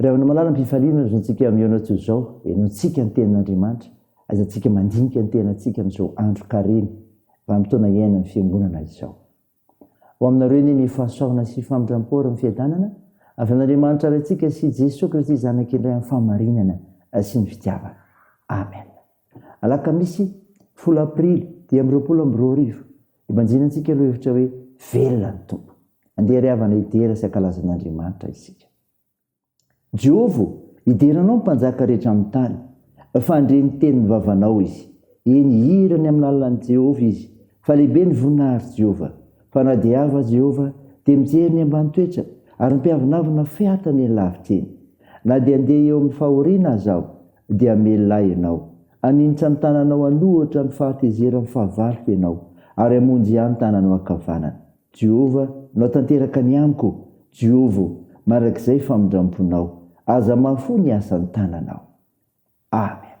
Ry havana malala, ampifaliana ry zontsika amin'izao natsoa izao, henointsika ny tenin'Andriamanitra, aizantsika mandinika ny tenantsika amin'izao andro karemy, vanim-potoana iainan'ny Fiangonana izao. Ho aminareo anie ny fahasoavana sy famindram-po ary ny fiadanana avy amin'Andriamanitra Raintsika sy Jesoa Kristy Zanaka indray amin'ny fahamarinana sy ny fitiavana. Amen. Alakamisy, folo Aprily dimy amby roapolo amby roa arivo, Ibanjina antsika lohevitra hoe velona ny Tompo. Andeha ry havana hidera sy hankalaza an'Andriamanitra isika. Jehovah ô, hidera anao ny mpanjaka rehetra amin'ny tany, fa handre ny tenin'ny vavanao izy. Eny, hihira ny amin'ny lalan'i Jehovah izy, fa lehibe ny voninahitr'i Jehovah. Fa na dia avo aza Jehovah, dia mijery ny ambany toetra, ary ny mpiavonavona fehatany eny lavitra eny. Na dia handeha eo amin'ny fahoriana aza aho, dia hamelona ahy ianao. Haninitra ny tananao aloha hoatran'ny fahatezeran'ny fahavaloko ianao, ary hamonjy ahy ny tananao ankavanana. Jehovah, nao tanteraka ny amiko, Jehovah ô, mandrakizay famindram-ponao. Aza mahafoy ny asan'ny tananao. Amena.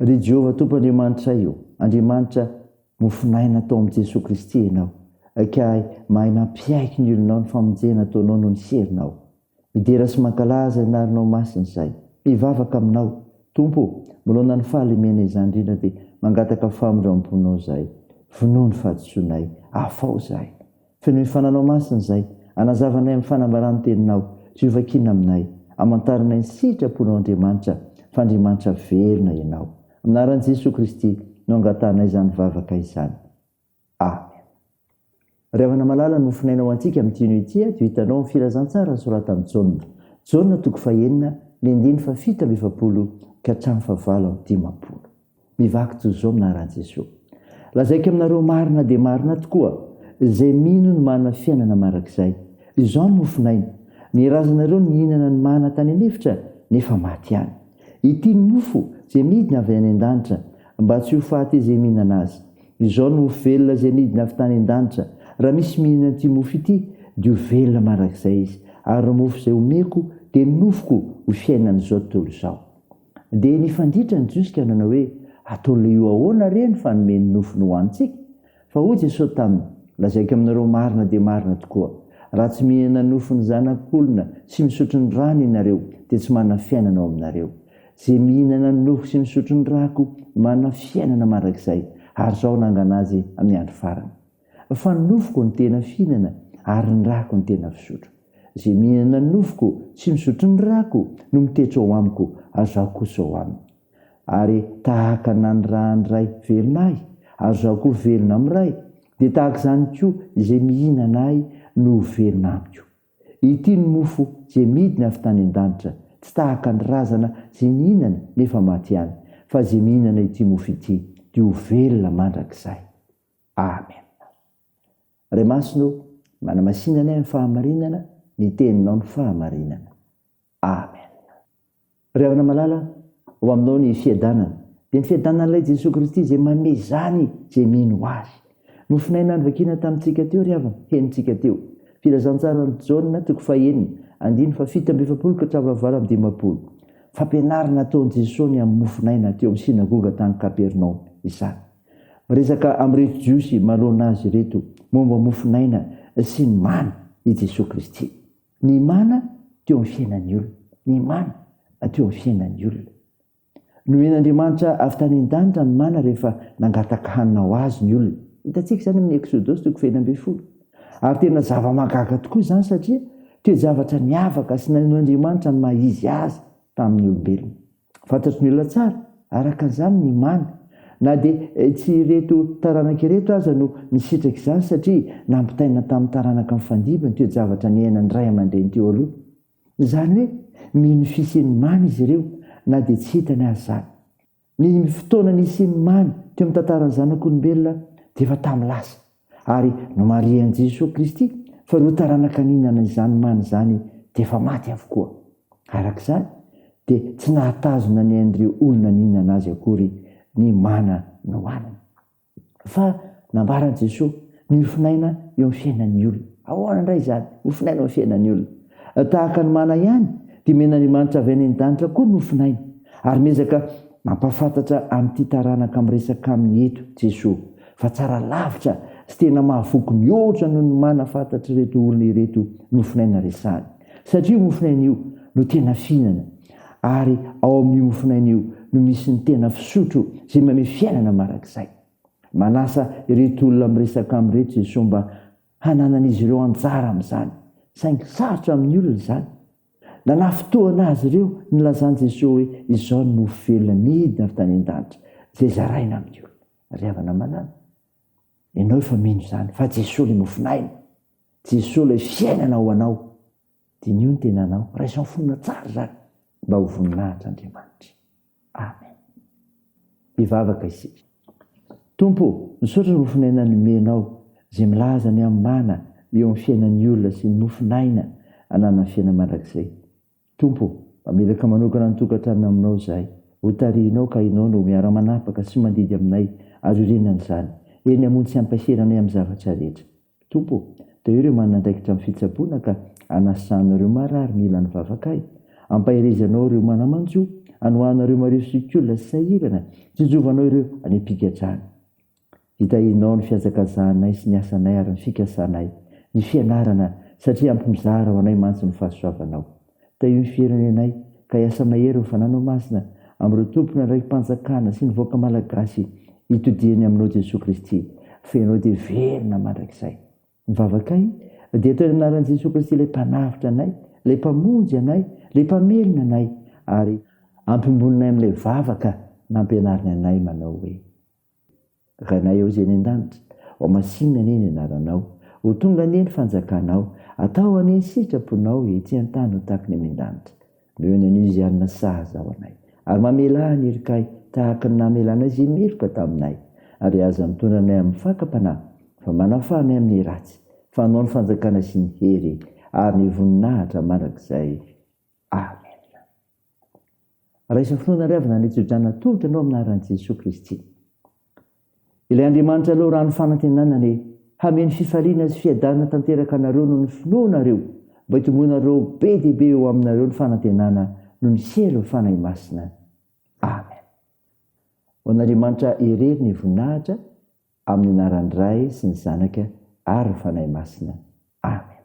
Ry Jehovah Tompo Andriamanitray ô, Andriamanitra mofonaina tao amin'i Jesoa Kristy ianao, ka mahay mampiaiky ny olonao ny famonjena ataonao noho ny herinao. Midera sy mankalaza ny lalinao masina izahay, mivavaka aminao. Tompo ô, manoloana ny fahalemena izany indrindra dia mangataka famindramponao izahay. Vonoa ny fahadisoanay, afaho izahay. Feno hifananao masina izay. Anazavanay amin'ny fanambarà ny Teninao. Tsy ho vakiana aminay. Amantaranay ny sitraponao Andriamanitra, fa Andriamanitra velona Ianao. Amin'ny anaran'i Jesoa Kristy no angatahanay izany vavaka izany. Amen. Ry havana malala, nofonaina ho antsika amin'ny tino ity ato hitanao ny Filazantsara nosoratan'i Jaona. Jaona toko fahenina, ny andininy fahafito amby efapolo ka hatramin'ny fahavalo amby dimampolo. Mivaky toy izao aminarà Jeso. Lazaiko aminareo marina dia marina tokoa, izay mino no manana fiainana marak'izay. Izao ny mofon'aina. Ny razanareo nihinana ny mana tany an'efitra, nefa maty ihany. Ity ny mofo izay midina avy any an-danitra, mba tsy ho faty izay mihinana azy. Izao ny mofo velona izay midina avy tany an-danitra. Raha misy mihinana an'ity mofo ity, dia ho velona marak'izay izy. Ary ny mofo izay omeko dia ny nofoko ho fiainan'izao tontolo izao. Dia nifanditra ny Jiosy ka nanao hoe, Ataon'ilay io ahoana re ny fanome ny nofony ho antsika? Fa hoy Jesosy taminy, Lazaiko aminareo marina dia marina tokoa, raha tsy mihena nofon'ny Zanak'olona sy misotro ny rany ianareo dia tsy manana fiainana ao aminareo. Izay mihinana ny nofo sy misotro ny rako manana fiainana mandrakizay, ary Izaho nangana azy amin'ny andro farany. Fa ny nofoko no tena fihinana ary ny rako no tena fisotro. Izay mihinana ny nofoko sy misotro ny rako no mitetso ao amiko ary zaho kosa ao aminy. Ary tahaka naniraha ny Ray velona ahy ary zaho koa velona amin'ny Ray, dia tahaka izany koa izay mihinana ahy no ho velona amiko. Ity ny mofo izay midina avy tany an-danitra, tsy tahaka ny razana izay nihinana nefa maty ihany, fa izay mihinana ity mofo ity dia ho velona mandrakizay. Amen. Ray Masina o, manamasinany ahy ny fahamarinana, ny teninao ny fahamarinana. Amen. Ry havana malala, ho aminao ny fiadanana, dia ny fiadanan'Ilay Jesoa Kristy izay manome izany izay mino Azy. Nofonaina novakina tamintsika teo ry havana, henontsika teo. Filazantsaran'i Jaona, toko fahenina, andininy fahafito amby efapolo ka hatramin'ny fahavalo amby dimampolo. Fampianarana ataon'i Jesoa ny amin'ny mofonaina teo amin'ny synagoga tany Kapernaomy izany. Miresaka amin'ireto Jiosy manoloana azy ireto momba ny mofon'aina sy ny mana i Jesoa Kristy. Ny mana teo amin'ny fiainan'ny olona. Ny mana teo amin'ny fiainan'ny olona. Nomen'Andriamanitra avy tany an-danitra ny mana rehefa nangataka hanina ho azy ny olona. Hitantsika izany amin'ny Eksodosy toko fahefatra ambin'ny folo. Ary tena zava-mahagaga tokoa izany satria toe-javatra niavaka sy nanehoan'Andriamanitra ny maha izy Azy tamin'ny olombelona. Fantatry ny olona tsara, araka an'izany, ny mamy. Na dia tsy ireto taranaka ireto aza no nisitraka izany, satria nampitaina tamin'ny taranaka nifandimby ny toe-javatra niainan'ny ray aman-dreny teo aloha. Izany hoe, mino ny fisian'ny mamy izy ireo, na dia tsy hitany aza izany. Ny fotoana nisian'ny mamy teo amin'ny tantaran'ny zanak'olombelona dia efa tamin'ny lasa. Ary nomarihan'i Jesoa Kristy fa ireo taranaka nihinana izany mana izany dia efa maty avokoa. Araka izany, dia tsy nahatazona ny ain'ireo olona nihinana azy akory ny mana nohaniny. Fa nambaran'i Jesoa ny hofin'aina eo amin'ny fiainan'ny olona. Ahoana indray izany hofin'aina eo amin'ny fiainan'ny olona? Tahaka ny mana ihany, dia omen'Andriamanitra avy any an-danitra koa ny nofin'aina, ary miezaka mampahafantatra amin'ity taranaka miresaka aminy eto Jesoa, fa tsara lavitra sy tena mahavoky mihoatra noho ny mana fantatr'ireto olona ireto nofin'aina resahany. Satria io mofin'aina io no tena fihinana, ary ao amin'io mofin'aina io no misy ny tena fisotro izay manome fiainana mandrakizay. Manasa ireto olona miresaka aminy ireto Jesoa mba hananan'izy ireo anjara amin'izany, saingy sarotra amin'ny olona izany. Nanafintohina azy ireo nilazan'i Jesoa hoe, Izao ny mofo velona nidina avy tany an-danitra, izay zaraina amin'ny olona. Ry havana malala, ianao efa mino izany, fa Jesoa ilay mofon'aina, Jesoa ilay fiainana ao anao. Diniho ny tenanao, raiso fonona tsara izany mba ho voninahitr' Andriamanitra. Amen. Hivavaka isika. Tompo ô, misaotra ny mofon'aina nomenao izay milaza ny hamana eo amin'ny fiainan'ny olona sy ny mofon'aina ananan'ny fiainana mandrakizay. Tompo ô, mamelaka manokana ny tokantranony aminao izahay, hotarihinao ka ianao no miara-manapaka sy mandidy aminay azo iorenan'izany, eny amontsean-paheranay amin'ny zavatra rehetra. Tompo, toy ireo manana andraikitra amin'ny fitsaboana ka anasanao ireo marary mila ny vavakay. Ampaherezanao ireo manamanjo, anohanao ireo mariho sy olona tsy sahirana, tsinjovanao ireo any am-pigadràna. Hitahianao ny fihazakazahanay sy ny asanay ary ny fikasanay, ny fianarana, satria ampy mizara ho anay mantsy ny fahasoavanao. Tahio ny firenenay ka hiasa mahery ny fananao masina amin'ireo tompona raiki-panjakana sy ny vahoaka malagasy itodihany aminao Jesoa Kristy fa ianao dia velona mandrakizay. Ny vavakay dia atao eny anaran'i Jesoa Kristy ilay mpanavotra anay, ilay mpamonjy anay, ilay mpamelona anay ary ampimbononay amin'ilay vavaka nampianariny anay manao hoe. Ranay ao Izay any an-danitra. Ho masinina anie ny anaranao. Ho tonga anie ny fanjakanao. Atao anie ny sitraponao ety an-tany ho tahaky ny any an-danitra. Noho ny anio Izay hanana sahaza ho anay. Ary mamela ahy ny herikay tahaky ny namelanao Izay meloka taminay. Ary aza mitondra anay amin'ny fakam-panahy fa manafaha anay amin'ny ratsy. Fa anao ny fanjakana sy ny hery ary ny voninahitra mandrakizay. Amen. Raiso finoana ry havana Andriantsio Janona tohotra anao amin'ny anaran'i Jesoa Kristy. Ilay Andriamanitra Lalao Rano Fanantenana anie hameno fifaliana sy fiadanana tanteraka anareo noho ny finoanareo mba hitomboanareo be dia be eo aminareo ny fanantenana noho ny sehalin'ny Fanahy Masina. Amen. Ho an'Andriamanitra irery ny voninahitra amin'ny anaran'ny Ray sy ny Zanaka ary ny Fanahy Masina. Amen.